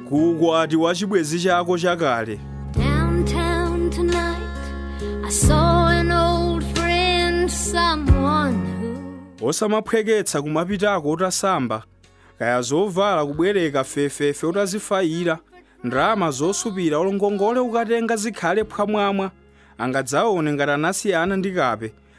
ku ukwati wa chibwenzi chako chakale Downtown tonight, I saw an old friend, someone who osamaphweketsa kumapitako utasamba kaya zovala kubwereka fefefe utazifayira ndalama zosupira olo ngongole ukatenga zikhale phwamwamwa angadzaone ngati anasiyana ndi kape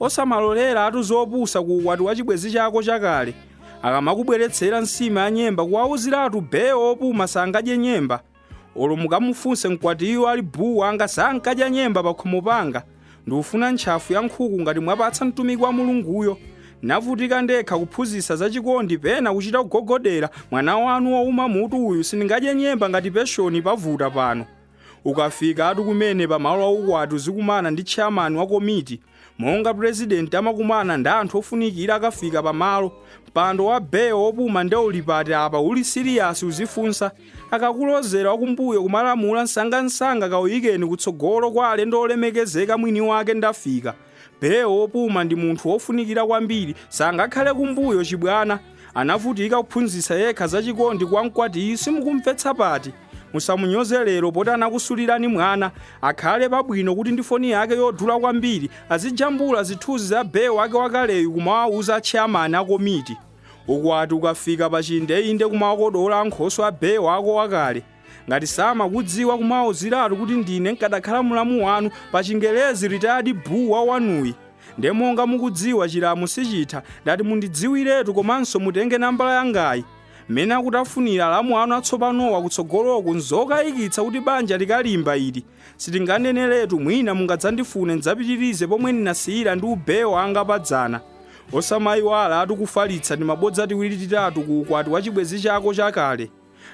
Osamaloleratu zopusa ku ukwati wa chibwenzi chako chakale. Akamakubweretsera nsima ya nyemba kuwauziratu bee opuma sangadye nyemba. Olo mukamufunse mkwatiyo ali buu wanga sankadya nyemba pakhomo panga. Ndufuna ntchafu ya nkhuku ngati mwapatsa mtumiki wa Mulunguyo. Navutika ndekha kuphunzitsa za chikondi pena kuchita kugogodera mwana wanu wouma mutu uyu sindingadye nyemba ngati peshoni pavuta pano. Ukafikatu kumene pa malo a ukwati uzikumana ndi tcheyamani wa komiti. Monga pulezidenti amakumana ndi anthu ofunikira akafika pa malo. Mpando wa bee wopuma nde uli pati apa uli siliyasi uzifunsa. Akakulozera wakumbuyo kumalamula msangamsanga kauyikeni kutsogolo kwa alendo olemekezeka mwini wake ndafika. Bee wopuma ndi munthu wofunikira kwambiri sangakhale kumbuyo chibwana anavutika kuphunzitsa yekha za chikondi kwa mkwatiyu simukumvetsa pati musamunyoze lero poti anakusulirani mwana akhale pabwino kuti ndi foni yake yodula kwambiri azijambula zithunzi za bee wake wakaleyu kumawawuza atcheyamani akomiti ukwati ukafika pachindeinde kumawakodola ankhoswe a bee wako wakale ngati samakudziwa kumawauziratu kuti ndine nkadakhala mulamu wanu pa chingelezi ritayadi buu wa wanuyi nde monga mukudziwa chilamu sichitha ndati mundidziwiretu komanso mutenge nambala yangayi mmene akutafunira alamu anu atsopanowa kutsogoloku nzokayikitsa kuti banja likalimba ili sitinganeneretu mwina mungadzandifune ndidzapitirize pomwe ndinasiyira ndi ubee wanga padzana osamayiwalatu kufalitsa timabodza tiwiri titatu ku ukwati wa chibwenzi chako chakale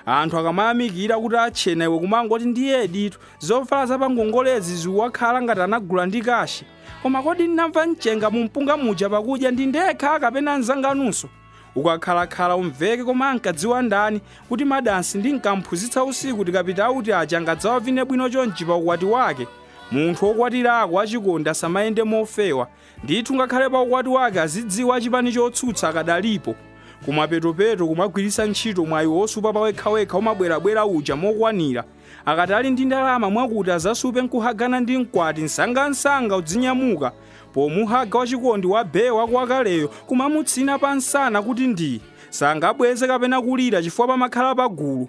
Anthu akamayamikira kuti atchena iwe kumangoti ndiyeditu zovala za pangongolezi zikuwakhala ngati anagula ndi kashi. Koma kodi ndinamva mchenga mu mpunga muja pakudya ndi ndekha kapena anzanganunso? Ukakhalakhala umveke koma ankadziwa ndani kuti madansi ndinkamphunzitsa usiku tikapita auti aja angadzawavine bwino chonchi pa ukwati wake? Munthu wokwatirako achikondi asamayende mofewa. Ndithu ngakhale pa ukwati wake azidziwa achipani chotsutsa akadalipo. Kumapetopeto kumagwiritsa ntchito mwayi wosupa pawekhawekha umabwerabwera uja mokwanira. Akati ali ndi ndalama mwakuti azasupe nkuhagana ndi mkwati msangamsanga udzinyamuka pomuhaga wachikondi wa bee wako wakaleyo kumamutsina pamsana kuti ndii, sangabweze kapena kulira chifukwa pamakhala pagulu.